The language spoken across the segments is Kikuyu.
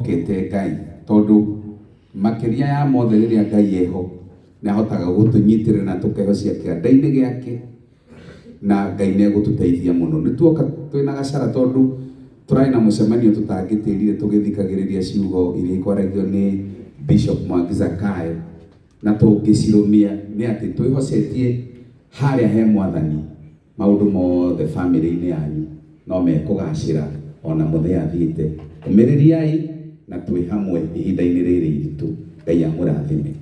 Mokĩte Ngai tondũ makĩria ya mothe rĩrĩa Ngai eho nĩahotaga gũtũnyitĩrĩra na tũkehocia kĩanda-inĩ gĩake na Ngai nĩegũtũteithia mũno. Nĩtuoka twĩna gacara tondũ tũrarĩ na mũcemanio tũtangĩtĩrire tũgĩthikagĩrĩria ciugo iria ikwaragio nĩ Bishop Mwangi Zakayo na tũngĩcirũmia nĩ atĩ twĩhocetie harĩa he Mwathani. Maũndũ mothe famĩlĩ-inĩ yanyu no mekũgaacĩra o na mũtheathiĩte. Ũmĩrĩriai na twĩ hamwe ihinda-inĩ rĩrĩ iritũ. Ngai amũrathime.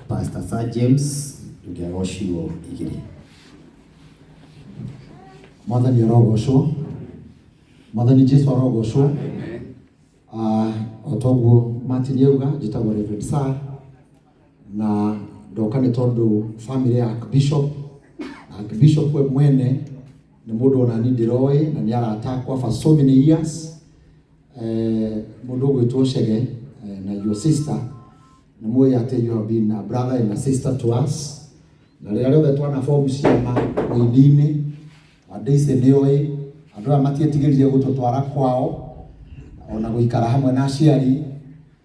Pastor Sir James ũngĩaga o ciugo igĩrĩ. Mwathani arogocwo. Mwathani Jesu arogocwo. O ta ũguo Martin auga, njĩtagwo Reverend Sir. na ndoka nĩ tondũ family ya Archbishop na Archbishop we mwene nĩ mũndũ ona niĩ ndĩroĩ na nĩ arata akwa for so many years eh, mũndũ ũgwĩtwo Chege eh, na your sister nĩ mũĩ atĩ you have been a brother and a sister to us na rĩrĩa rĩothe twana form ciama ũini-inĩ andũ ici nĩ oĩ andũ aya matietigĩrire gũtũtwara kwao ona gũikara hamwe na aciari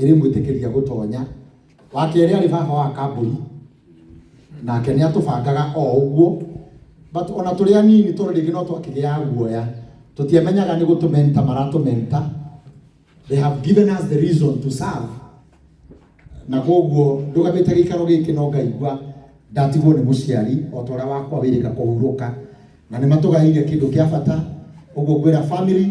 ĩrĩmwĩtĩkĩria gũtonya. Wa kerĩ arĩ baba wa kambũri, nake nĩ atũbangaga o ũguo, but ona tũrĩ anini tondũ rĩngĩ no twakĩgĩaga guoya, tũtiamenyaga nĩ gũtũmenta maratũmenta, they have given us the reason to serve, na koguo ndũgamĩte gĩikaro gĩkĩ no ngaigua ndatigwo nĩ mũciari o ta ũrĩa wakwa wĩrĩga kũhurũka, na nĩ matũgaĩire kĩndũ kĩa bata, ũguo ngwĩra family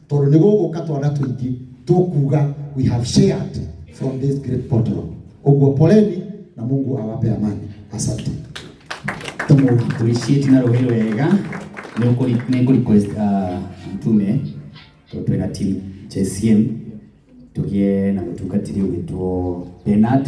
tondå nä gå gå ka twana tå ingä tå kuga we have shared from this great bottle å guo poleni na mungu awape amani asante tumuappreciate na rũĩ wega nĩngũ request uh, mtume tondũ twĩna team JCM tũgĩe na mũtungatĩri ũgĩtwo Bernard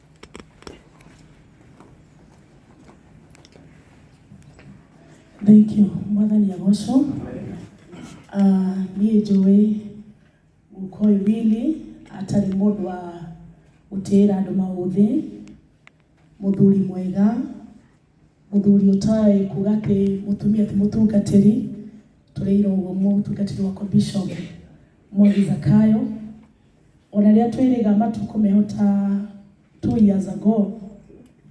Thank you. Mwathani agocwo. Uh, niĩ njũĩ Mũkũyũ Billy atarĩ mũndũ wa gũtĩĩra andũ maũthĩ, mũthuri mwega, Mũthuri ũtoĩ kuga atĩ mũtumia ti mũtungatĩri, tũrĩirwo ũguo mũtungatĩri wakwa Bishop Mwangi Zakayo. Ona rĩrĩa twĩrĩga matukũ meho ta two years ago,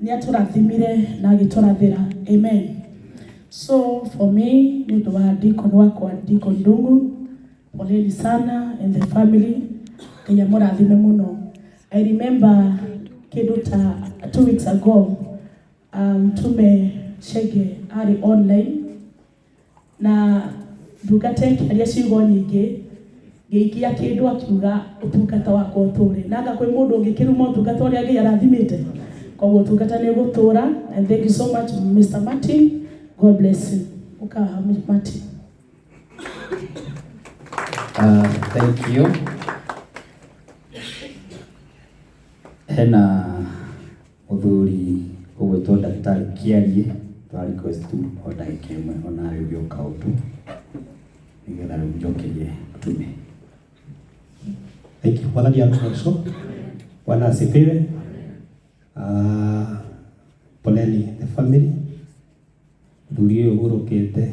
nĩ atũrathimire na agĩtũrathĩra. Amen. So for me nĩ ũndũ wa Deacon wakwa Deacon Ndung'u, Poleni sana and the family. Ngai amũrathime mũno. I remember kĩndũ ta two weeks ago um, tume Chege arĩ online na ndungata ĩkĩaria ciugo nyingĩ ngĩikia kĩndũ akiuga ũtungata wakwa ũtũre na anga kwĩ mũndũ ũngĩkĩruma ũtungata ũrĩa Ngai arathimĩte koguo ũtungata nĩ ũgũtũra and thank you so much Mr. Martin God bless you ũkaha Martin Uh, thank you. Hena mũthuri ũgwĩtwo ndagĩtarĩ Kĩarie twa request tu o ndagĩka ĩmwe ona arĩũria ũkaũndũ nĩgetha rĩu njokerie tume. Thank you. Bwana Diana Alfonso. Bwana asifiwe. Ah, poleni the family. Mũthuri ũyũ ũgũrũkĩte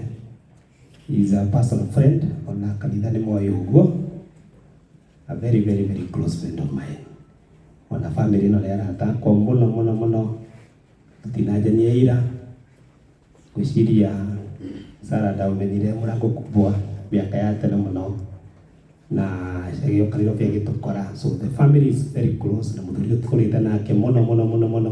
is a personal friend, ona kanitha nĩ moĩ ũguo. A very very very close friend of mine. Ona family ĩno nĩ arata akwa mũno mũno mũno. Tũtinanjania ira. Ngwĩciria Sarah ndaũmenyire mũrango kubwa mĩaka ya tene mũno. Na gĩũkanĩro kĩu gĩtũkora. So the family is very close na mũthuri ũyũ tũkũrĩte nake mũno mũno mũno mũno.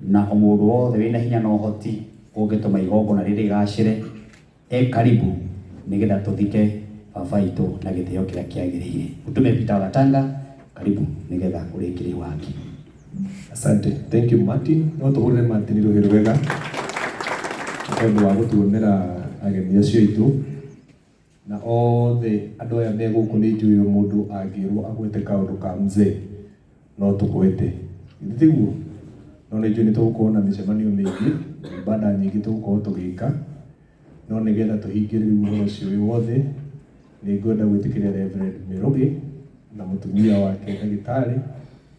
Na o mũndũ wothe wĩ na hinya na ũhoti ũngĩtũma igongona rĩrĩ rĩgaacĩre, e karibu nĩgetha tũthike baba aitũ na gĩtĩo kĩrĩa kĩagĩrĩire. Mũtume Peter wa Gatanga, karibu nĩgetha ũrĩkĩrie waki. Asante. Thank you Martin. No tũhũrĩre Martin rũhĩ rwega nĩ tondũ wa gũtuonera ageni acio aitũ. Na othe andũ aya me gũkũ nĩ njũĩ ũyũ mũndũ angĩrwo agwete kaũndũ ka Mzee no tũgwete. Githĩ tiguo? No nĩ njũĩ nĩ tũgũkorwo na mĩcemanio mĩingĩ, ibada nyingĩ tũgũkorwo tũgĩka, no nĩ getha tũhingĩre rĩu ũhoro ũcio wĩ wothe, nĩ ngwenda gwĩtĩkĩria Reverend Mĩrũgĩ na mũtumia wake ndagĩtarĩ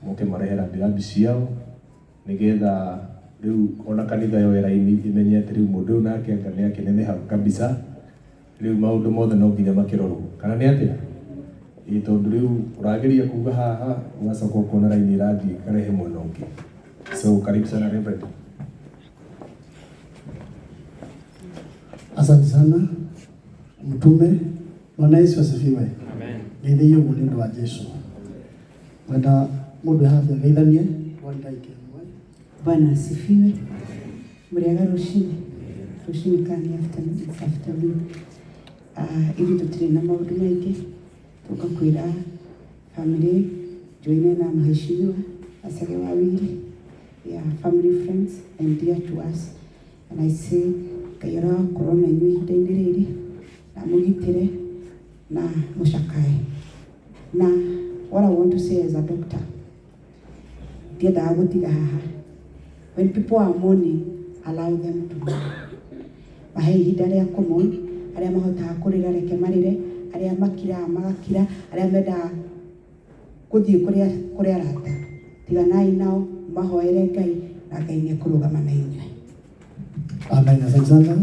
moke marehe rambirambi ciao. Nĩgetha rĩu ona kanitha yoe raini ĩmenye atĩ rĩu mũndũ ũyũ nake anga nĩ akĩneneha kabica, rĩu maũndũ mothe no nginya makĩrorwo. Kana nĩ atĩa? Ĩĩ tondũ rĩu ũrageria kuuga haha, ũgacoka ũkona raini ĩrathiĩ ĩkarehe mwena ũngĩ. So karibu sana Reverend. Asante sana mtume. Bwana Yesu asifiwe. Amen. Ngeithĩio ũguo nĩ ũndũ wa Jesu. Wenda mũndũ haha ngeithanie kwa Ngai kĩmwe. Bwana asifiwe. Muriaga rucini rucini kani afternoon it's afternoon. Ah, ithuĩ tũtirĩ na maũndũ maingĩ tũka kwĩra family joine na mheshimiwa asage wawili ya family friends and dear to us na ici ngai arakorwo na inyuĩ ihinda-inĩ rĩrĩ na mũgitĩre na mũcakae na what I want to say as a doctor ndiendaga gũtiga haha when people are mourning allow them to mourn mahe ihinda rĩa kũmon arĩa mahotaga kũrĩra reke marĩre arĩa makiraga magakira arĩa mendaga Gũthiĩ kũrĩ kũrĩ arata. Tiganai nao, mũmahoere Ngai, na Ngai nĩekũrũgama na inyuĩ. Amen. Asante sana.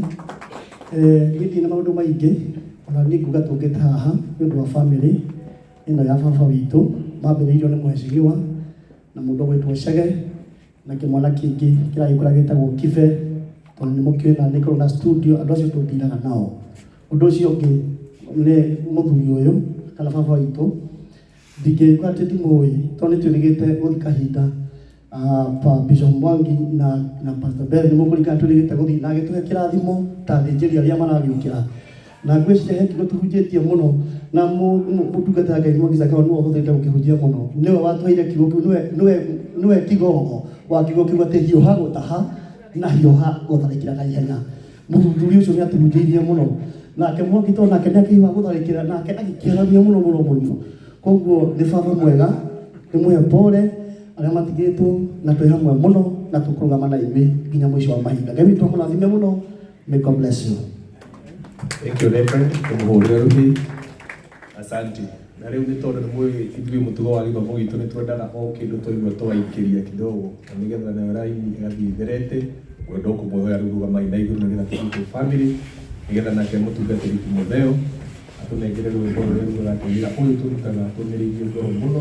Eh, ngithi na maundu maingi ona ni nguga tungite haha ni undu wa family ino ya baba witũ mambĩrĩirio nĩ mheshimiwa na mũndũ ũgwĩtwo Chege na kĩmwana kĩngĩ kĩragĩkũra gĩtagwo kibe tondũ nĩ mũkĩũĩ na nĩ korwo na studio andũ acio tũndiraga nao ũndũ ũcio ũngĩ nĩ mũthuri ũyũ kana baba witũ ndingĩgĩkora atĩ ndimũĩ tondũ nĩ twĩrĩgĩte gũthiĩ kahinda ah, pa Bishop Mwangi na na Pastor Bell nĩ mũkũrikana twĩrĩgĩte gũthiĩ na agĩtũhe kĩrathimo ta athĩnjĩri arĩa maragĩũkĩra na ngwĩciria he kiugo tũhunjĩtie mũno na mũ- mũ- mũtungata wa ngai mwagica kawa nĩwe ũhũthĩrĩte gũkĩhunjia mũno nĩwe watũheire kiugo kĩu nĩwe- nĩwe- nĩwe kigongo wa kiugo kĩu atĩ hiũha gũtaha na hiũha gũtharĩkĩra na ihenya mũthuri ũcio nĩ atũhunjĩirie mũno nake mwangi to nake nĩ akĩhiũha gũtharĩkĩra nake agĩkĩaramia mũno mũno mũno koguo nĩ baba mwega nĩ mũhe pole arĩa matigĩtwo na twĩ hamwe mũno na tũkũrũgama na inyuĩ nginya mũico wa mahinda ngai witũ amũrathime mũno May God bless you. Thank you, Reverend. Kumuhurira ruhi. Asante. Na rĩu nĩ tondũ nĩ mũĩ ithuĩ mũtugo wa gĩthomo gitũ nĩ twendaga o kĩndũ twaigua twaingĩria kidogo na nĩgetha nayo raini ĩgathiĩ ĩtherete ngwenda kũmũhoya rĩu rũgamai na igũrũ nĩgetha tũrute family nĩgetha nake mũtungatĩri Timotheo atũnengere rwĩmbo rũrĩa rũratũmĩra ũyũ tũrutaga tũmĩrĩirie ngoro mũno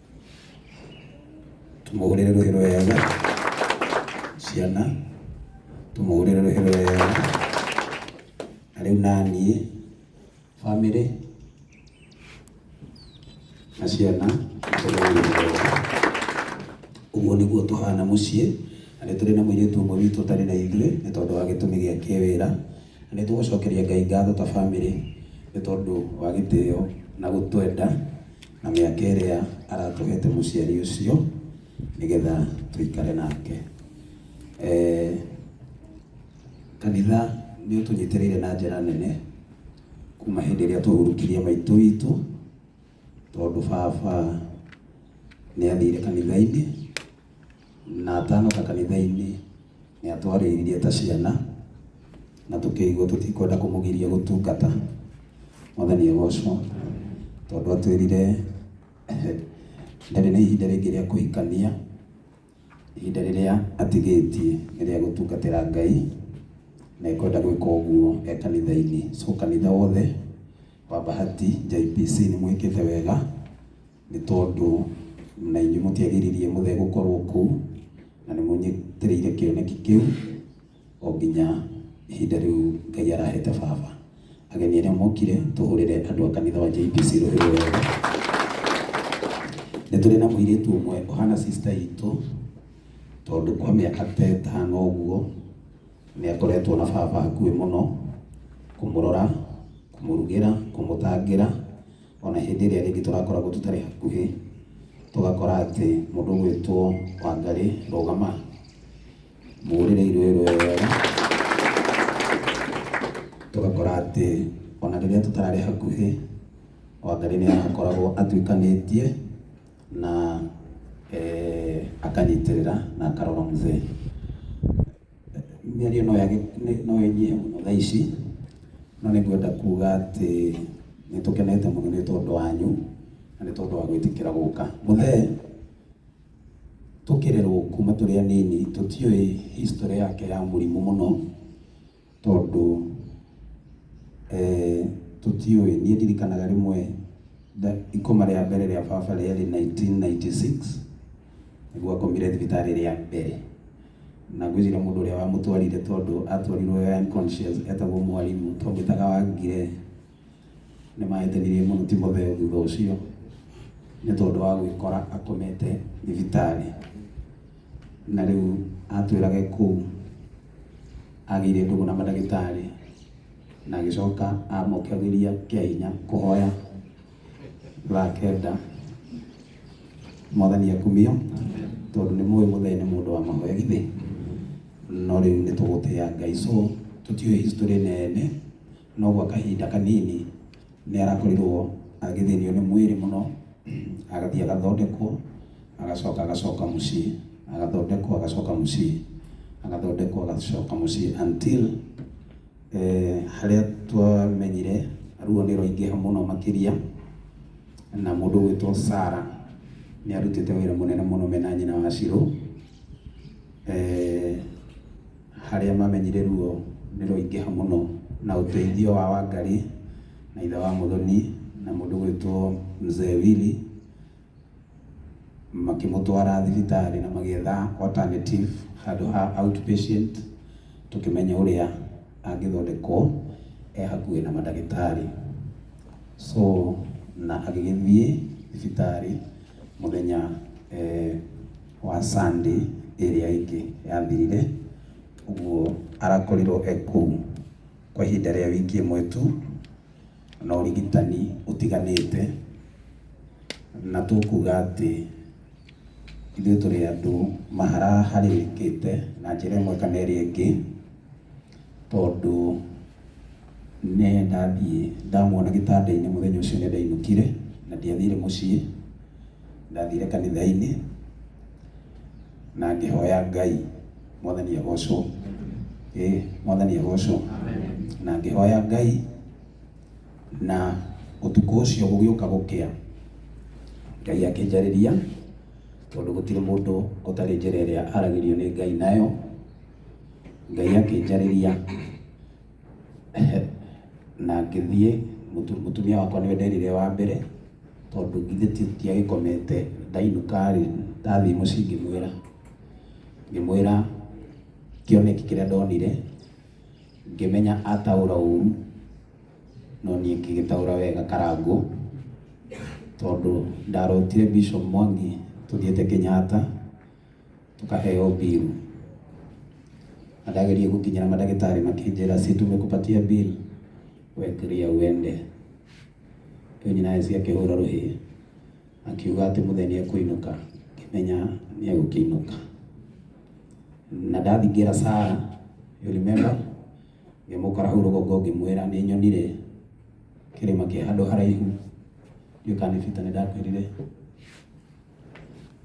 tumũhũrĩre rũhĩ rwega ciana tumũhũrĩre rũhĩ rwega na rĩu naniĩ bamĩrĩ na ciana ũguo nĩguo tũhana mũciĩ na nĩ tũrĩ na mũirĩtu ũmwe witũ ũtarĩ na ithuĩ nĩ tondũ wa gĩtũmi gĩa kĩwĩra Nĩtũgũcokeria Ngai ngatho ta bamĩrĩ nĩ tondũ wa gĩtĩo na gũtwenda na mĩaka ĩrĩa aratũhete mũciari ũcio nĩgetha tũikare nake. Eeh Kanitha nĩũtũnyitĩrĩire na njĩra nene kuma hĩndĩ ĩrĩa twahurũkirie maitũ witũ. tondũ baba nĩ athire kanitha-inĩ na atanoka kanitha-inĩ nĩ atwarĩirie ta ciana na tũkĩigua tũtikwenda kũmũgiria gũtungata mwathani agocwo tondũ atwĩrire ndarĩ na ihinda rĩngĩ rĩa kũhikania ihinda rĩrĩa atigĩtie nĩ rĩa gũtungatĩra Ngai, na ekwenda gwĩka ũguo e kanitha-inĩ. So kanitha wothe wa Bahati JPC nĩ mwĩkĩte wega, nĩ tondũ na inyuĩ mũtiagiririe mũthee gũkorwo kũu, na nĩ mũnyitĩrĩire kĩoneki kĩu. o nginya ihinda rĩu Ngai arahete baba. Ageni arĩa mokire, tũhũrĩre andũ a kanitha wa JPC rũĩ rũrũ wega. Nĩ tũrĩ na mũirĩtu ũmwe ũhana sister itũ, tondũ kwa mĩaka ta ĩtano ũguo nĩ akoretwo na baba hakuhĩ mũno, kũmũrora, kũmũrugĩra, kũmũtangĩra, ona hĩndĩ ĩrĩa rĩngĩ tũrakoragwo tũtarĩ hakuhĩ, tũgakora atĩ mũndũ ũgwĩtwo Wangarĩ rũgama, Mũgũrĩre irio ĩrĩa wega tũgakora atĩ ona rĩrĩa tũtararĩ hakuhĩ Wangarĩ nĩ akoragwo atuĩkanĩtie na eh, akanyitĩrĩra na akarora mũthee mĩario no yage no ĩnyihe mũno thaa ici no nĩ ngwenda kuga atĩ nĩ tũkenete mũno nĩ tondũ wanyu na nĩ tondũ wa gwĩtĩkĩra gũka mũthee tũkĩrerwo kuma tũrĩ anini tũtiũĩ history yake ya mũrimũ mũno tondũ eh, tũtiũĩ niĩ ndirikanaga rĩmwe nda- ikoma rĩa mbere rĩa baba rĩarĩ 1996 nĩguo akomire thibitarĩ rĩa mbere na ngwĩciria mũndũ ũrĩa wamũtwarire tondũ atwarirwo e unconscious etagwo mwarimũ twamwĩtaga wangire nĩ mahĩtanirie mũno timotheo thutha ũcio nĩ tondũ wa gwĩkora akomete thibitarĩ na rĩu atwĩrage kũu agĩire ndũgũ na mandagĩtarĩ na agĩcoka amokagĩria kĩa hinya kũhoya thaa kenda mwathani akumio tondũ nĩ mũĩ mũthee nĩ mũndũ wa mahoya githĩ no rĩu nĩ tũgũtĩa ngai so tũtiũĩ history nene No gwa kahinda kanini nĩarakorirwo agĩthĩnio nĩ mwĩrĩ mũno, agathiĩ agathondekwo, agacoka agacoka mũciĩ, agathondekwo agacoka mũciĩ, agathondekwo agacoka mũciĩ until harĩa twamenyire ruo nĩrwaingĩha mũno makĩria na mũndũ ũgwĩtwo Sarah nĩarutĩte wĩra mũnene mũno mena nyina wa Shirũ. Harĩa mamenyire ruo nĩ rũingĩha mũno na ũteithio wa Wangari na ithe wa Muthoni na mũndũ ũgwĩtwo Mzee Willy makĩmũtwara thibitarĩ na magĩetha alternative handũ ha outpatient tũkĩmenya ũrĩa angĩthondekwo e hakuhĩ na mandagĩtarĩ. So na agĩgĩthiĩ thibitarĩ mũthenya wa Sunday ĩrĩa ĩngĩ yathirire, ũguo arakorirwo e kũu kwa ihinda rĩa wiki ĩmwe tu na ũrigitani ũtiganĩte, na tũkuga atĩ ithuĩ tũrĩ andũ maharaharĩkĩte na njĩra ĩmwe kana ĩrĩa ĩngĩ, tondũ nĩ ndathiĩ ndamuona gĩtanda-inĩ mũthenya ũcio nĩ ndainũkire na ndiathire mũciĩ. Ndathire kanitha-inĩ na ngĩhoya Ngai, mwathani agocwo, ĩ mwathani agocwo, na ngĩhoya Ngai na ũtukũ ũcio gũgĩũka gũkĩa, Ngai akĩnjarĩria tondũ gũtirĩ mũndũ ũtarĩ njĩra ĩrĩa aragĩrio nĩ Ngai nayo, Ngai akĩnjarĩria. na ngĩthiĩ mũtu- mũtumia wakwa nĩwe nderire wa mbere tondũ githĩ ti- tiagĩkomete ndainũka-rĩ ndathiĩ mũciĩ ngĩmwĩra ngĩmwĩra kĩoneki kĩrĩa ndonire ngĩmenya ataũra ũru no niĩ ngĩgĩtaũra wega karangũ tondũ ndarotire Bishop Mwangi tũthiĩte Kenyatta tũkaheo bill na ndageria gũkinyĩra mandagĩtarĩ makĩnjĩra si tumekupatia bill we clear uende rĩu nyina Esi akĩhũra rũhĩ akiuga atĩ mũthee nĩ ekũinũka ngĩmenya nĩ egũkĩinũka na ndathingĩra Sara you remember ngĩmũkora hau rũgongo ngĩmwĩra nĩ nyonire kĩrĩma kĩ handũ haraihu ndiũkanĩbita nĩ ndakwĩrire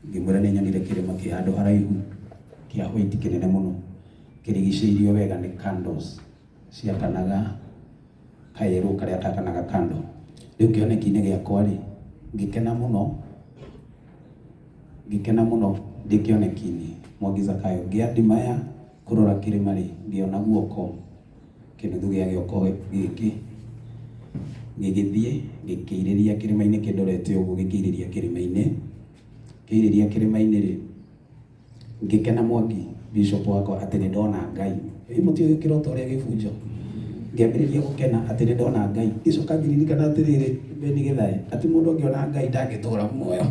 ngĩmwĩra nĩ nyonire kĩrĩma kĩ handũ haraihu kĩa hwaiti kĩnene mũno kĩrigicĩirio wega nĩ candles ciakanaga kayerũ karĩa kakanaga kando rĩu kĩoneki-inĩ gĩakwa rĩ ngĩkena mũno ngĩkena mũno ndĩ kĩoneki-inĩ mwangi zakayo ngĩadimaya kũrora kĩrĩma rĩ ngĩona guoko Kĩnuthu gĩa gĩoko gĩkĩ gĩgĩthiĩ gĩkĩirĩria kĩrĩma-inĩ kĩndorete ũguo gĩkĩirĩria kĩrĩma-inĩ kĩirĩria kĩrĩma-inĩ rĩ ngĩkena mwangi bishop wakwa atĩ nĩ ndona ngai ĩ mũtiũĩ kĩroto ũrĩa gĩbunjo ngĩambĩrĩria gũkena atĩ nĩ ndona ngai gĩcoka ngĩririkana atĩrĩrĩ beni gĩthaĩ atĩ mũndũ angĩona ngai ndangĩtũra muoyo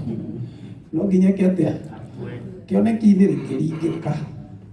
no nginya eke atĩa kĩoneki-inĩ rĩ ngĩringĩka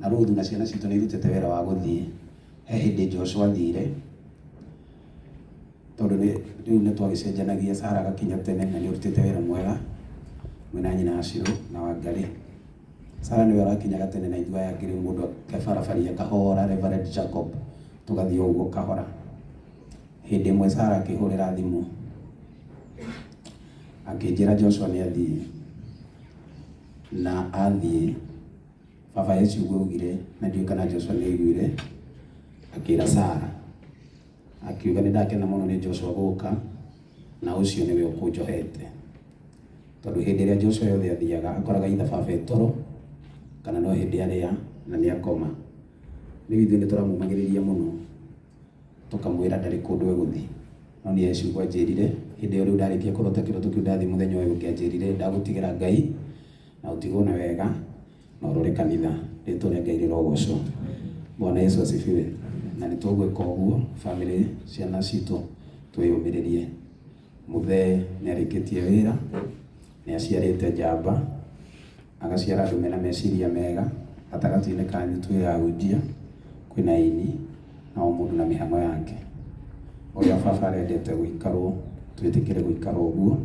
Na Ruthu na ciana citũ nĩ irutĩte wĩra wa gũthiĩ. He hĩndĩ Joshua athire, tondũ nĩ rĩu nĩ twagĩcenjanagia, Sara agakinya tene na nĩ ũrutĩte wĩra mwega mwĩ na nyina Ashirũ na Wangarĩ. Sara nĩwe ũrakinyaga tene na ithuĩ aya angĩ rĩu mũndũ akebarabaria kahora, Reverend Jacob, tũgathiĩ o ũguo kahora. Hĩndĩ ĩmwe Sara akĩhũrĩra thimũ akĩnjĩra Joshua nĩ athiĩ, na athiĩ Baba e ciugo augire, na ndiũĩ kana Joshua nĩ aiguire, akĩra Sara, akiuga nĩ ndakena mũno nĩ Joshua gũka, na ũcio nĩwe ũkũnjohete. Tondũ hĩndĩ ĩrĩa Joshua yothe athiaga, akoraga itha baba e toro, kana no hĩndĩ arĩa na nĩ akoma. Rĩu ithuĩ nĩ tũramũmagĩrĩria mũno, tũkamwĩra ndarĩ kũndũ egũthiĩ. No nĩ e ciugo anjĩrire, hĩndĩ ĩyo rĩu ndarĩkia kũrota kĩroto kĩu ndathiĩ mũthenya ũyũ ũngĩ anjĩrire ndagũtigĩra Ngai, Na ũtigwo na wega na ũrore kanitha. Rĩtwa rĩa Ngai rĩrogocwo. Bwana Yesu asifiwe. Na nĩ tũgwĩka ũguo family ciana citũ twĩyũmĩrĩrie. Mũthee nĩ arĩkĩtie wĩra, nĩ aciarĩte njamba, agaciara andũ mena meciria mega. Gatagatĩ-inĩ kanyu twĩ ahunjia kwĩna aini. na o mũndũ na mĩhang'o yake ũrĩa baba arendete gũikarwo twĩtĩkĩre gũikara ũguo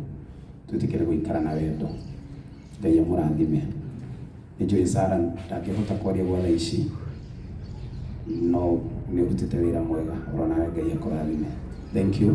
twĩtĩkĩre gũikara na wendo ngai amũrathime nĩ njũĩ sara ndangĩhota kwaria gwa thaa ici no nĩ ũrutĩte wĩra mwega ũronaga ngai akũrathime thank you